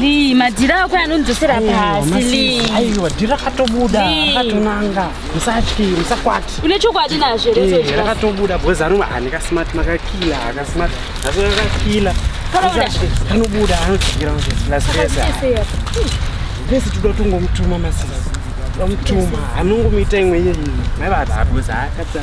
Lee, madhira ako anondzosera pasi Lee. Aiwa, dhira katobuda, akatonanga. Musatyi, musakwati. Une chokwadi nazvo here sezvo? Rakatobuda because anova ane ka smart makakila, aka smart. Asi rakakila. Kanobuda. Kanobuda, anodzikira kuti plus pesa. Pesa tuda tungomutuma masisi. Tomutuma, anongomuita imwe yeye. Mai vada because akatsa.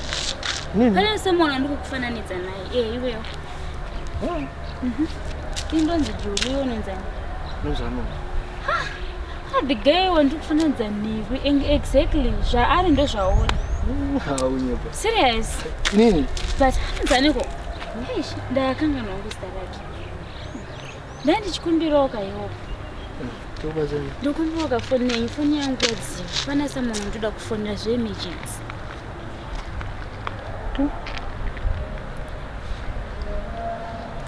Pane semwana ndikukufananidza naye. Eh, iweyo. Oh. Mhm. Indonzi Juli iwe unonzani? Nozano. Ha. Ah, the guy wandikufananidza newe exactly zvaari ndozvaona. Haunyepa. Serious? Nini? But hanzaniko? Eish, ndakanganwa nguzita rake. Dai ndichikumbirawo kaiwopo. Ndokumbirawo kafoni nenyu, foni yangu yadziwa. Pana someone ndoda kufonera zveemergency.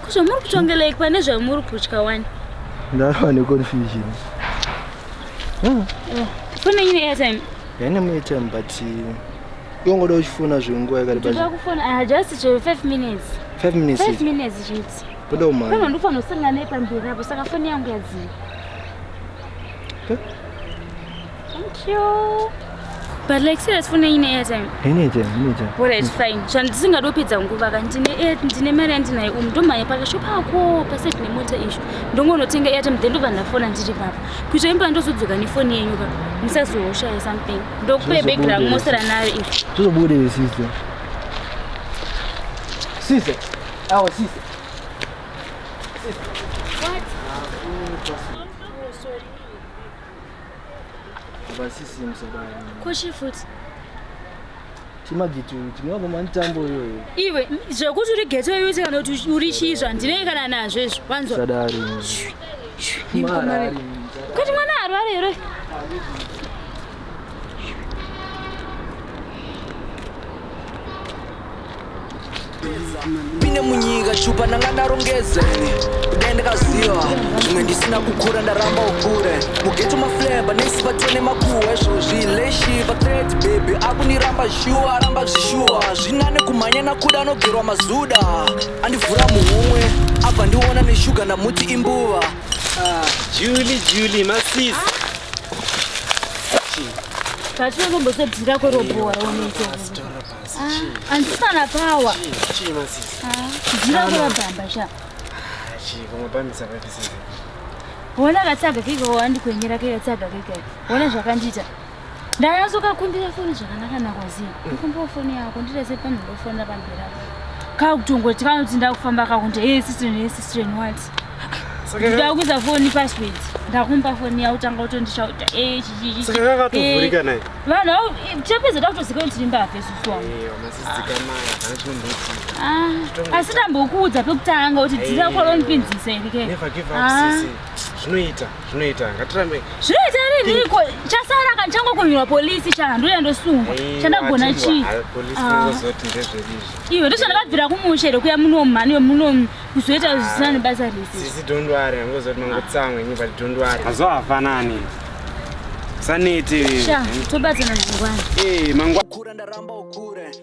Ko zvamuri kutongela iki pane zvamuri kutya wani? Ndava neconfusion. Ah. Eh, foni yenyu neairtime? Yaine muairtime but yongoda uchifona zvenguva yakareba. Ndoda kufona, ah, just 5 minutes. 5 minutes? 5 minutes chete. Buda umhanye. Kana ndofanosangana naye pamberi apo saka foni yangu yadziya. Okay. Thank you. But like serious foni ine airtime. Ine airtime, ine airtime. Alright fine. Zvandisingadi kupedza nguva ka ndine air ndine mari yandinayo umu ndomhanya pakashop ako paside nemota izvo. Ndongonotenga airtime then ndobva ndafona ndiri papa. Kuita imba ndozodzoka nefoni yenyu ka. Musazoshaya something. Ndokupe bag rangu mosara nayo izvo. Zvozobuda sister. Sister. Awo sister. Sister. What? Oh, sorry. Basisi msabani. Koshi futhi. Chimagitu tinova mantambo iyoyo. Iwe zvekuti uri geto iwe kana kuti uri chizva ndinenge kana nazvo izvo. Wanzwa? Sadari. Kuti mwana arware here? pine munyika chupa ndanga ndarongeze dai ndakaziva zvimwe ndisina kukura ndaramba ukure mugeto mafleba nesi vatene makuhwa izvozvi leshi vatreti bhebhi akundiramba shuwa aramba zvishuwa zvinane kumhanya nakuda anogerwa mazuda andivhura muhumwe abva ndiona neshuga ndamuti imbuva Ah, Julie, Julie, masis. Pasi unombosadzira kwerobhowa raunete. Andisana pawa. Chii masis. Dzira kwerabhamba sha. Chii vamwe pamisa pamisa. Wona katsaga kiko wandikwenyera kika tsaga kika. Wona zvakandiita. ndanyatsokakumbira foni zvakanaka nakwaziva kumbira foni yako ndirese panhu ndofonera pamberi apo kakutongoti kanoti ndakufamba kakunti hey sister hey sister and what ndida kuisa foni password ndakumba foni yao tanga utondishauta eh, eh, vanhu ao eh, chapedza takutoziva kuti ndimba hafesusu wangu ah, asi tambokuudza pekutanga kuti dzira kwalonipinzisa irike ah. zvinoita zvinoita ngatirambe zvinoita rini iko chasara kana changokunyura polisi cha ndouya ndosungwa chandagona chii ah. iwe ndizvo ndakabvira kumusha here kuya muno mhani wemuno kuzoita zvisina nebasa risisi dondwari angozoti mangotsamwe nyi but dondwari mazuva hafanani sanete tobatsana mangwana eh, mangwana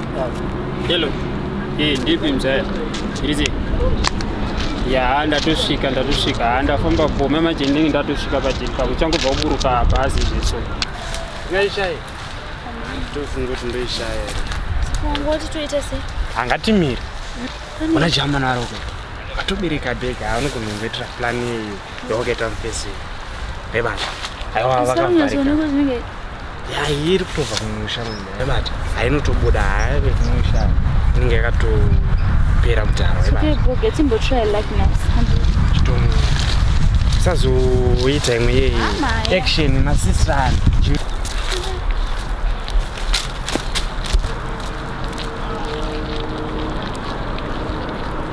Hello. Hey, ndipi mzaya. Chirizi. Ya, ndatosvika, ndatosvika. Ha, ndafamba bome manje ndinge ndatosvika patiri pako. Changobva kuburuka hapa hazi zveso. Ngaishaye. Ndofunga kuti ndoishaye. Ngoti toita sei? Hangatimire. Ona jamana roko. Atobereka bega, anogonongoitira plan yeyo. Okay, turn face. Hey, man. Aiwa vakavarika. Yayi iri kutobva kumusha munhu. Hey, man. Ainotobuda haive kumusha. Inenge yakatopera mutaro. Hey, man. Okay, bro, get him to try like now. Chitomu. Sazoita imwe yeyi. Action na sister.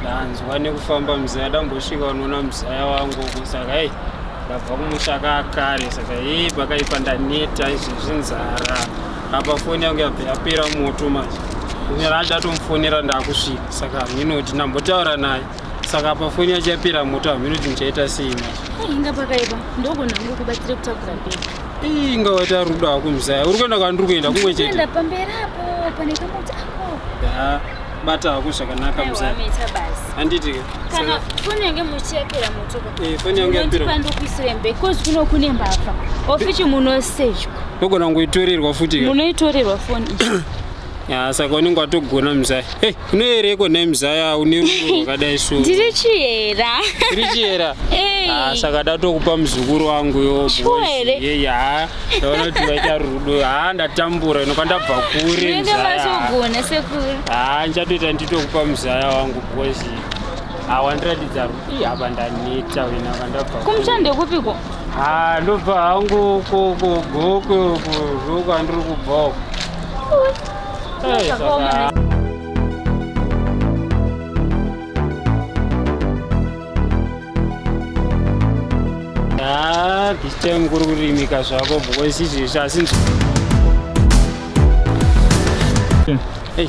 ndanzwa nekufamba mzaya ndambosvika unoona mzaya wangu uku saka ei ndabva kumusha kakare saka hei pakaipa ndaneta izvi zvinzara apa foni yangu yabva yapera moto manje kunyara achatomufonera ndakusvika saka haminoti ndambotaura naye saka apa foni yacho yapera moto haminoti ndichaita sei manje inga pakaipa ndogonangu kubatsire kutakura bheki Ii inga waita rudo hako mzaya. Uri kuenda kwandiri kuenda kumwe chete. Kuenda pamberi apo pane kamota ako. Da. Bata hako zvakanaka mzaya. Wameita basi. Handiti ke. Kana foni yange muchiyapera moto ko. Eh foni yange yapera. Ndipo ndokuisire mbe cause kuno kune mbavha. Ofichi munosejwa. Ndogona ngoitorerwa futi. Munoitorerwa foni. Ah, saka unenge watogona mzaya hey, unoyereko nhai mzaya une rudo rwakadai so ndiri chiyera tiri chiyera Hey. Ah, saka datokupa muzukuru wangu yo Sure here? yeyi haa ndaona kuti vaita rudo haa ndatambura ino kwandabva kure unenge mzaya matogona sekuru haa ndichatoita nditokupa mzaya wangu bhozi haa wandiratidza rudo Ih, apa ndaneta wena kwandabva kure. kumuchando kupiko Ah, ndobva hangu uko uko gokwe uko zvoku andiri kubva uko. Hey, saka. Ah, this time kuri kurimika zvako because izvezvi asinzi. Hey.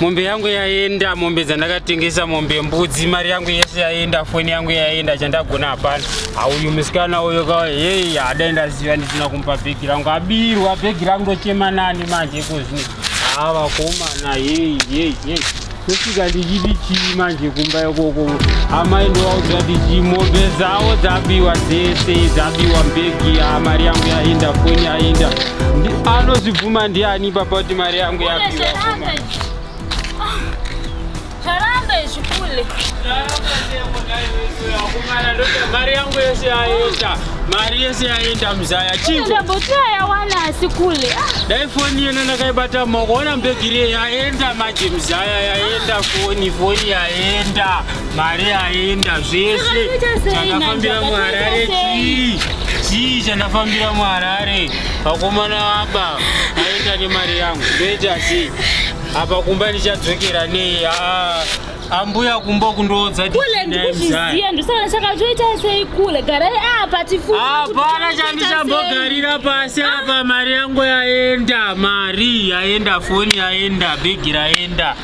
mombe yangu yaenda mombe dzandakatengesa mombe mbudzi mari yangu yese yaenda foni yangu yaenda chandagona hapana auyu musikana uyo ka hei hadai ndaziva ndisina kumupa bhegi rangu abirwa bhegi rangu ndochema nani manje ikozvino haa vakomana hei hei hei tosvika ndichiti chii manje kumba ikoko amai ndovaudza ndichi mombe dzavo dzabiwa dzese dzabiwa mbegi haa mari yangu yaenda foni yaenda anozvibvuma ndiani papa kuti mari yangu Mari yangu yese yaenda, mari yese yaenda mzaya. Chinja botia yawana asikule. Ah. Dai foni yena ndakaibata maoko, ona mbegiri yaenda maji mzaya yaenda foni, foni yaenda, mari yaenda zvese. Chakafambira muHarare chii? Chii chandafambira muHarare? Vakomana vaba aenda nemari yangu ndoita sei? Apa kumba ndichadzokera nei? Ah, ambuya kumba kundoodza Kule ndikuzviziya ndosaka chakatoita sei kule garai apa tifunge. Hapana chandichambogarira pasi apa mari yangu yaenda mari yaenda foni yaenda bhegi raenda.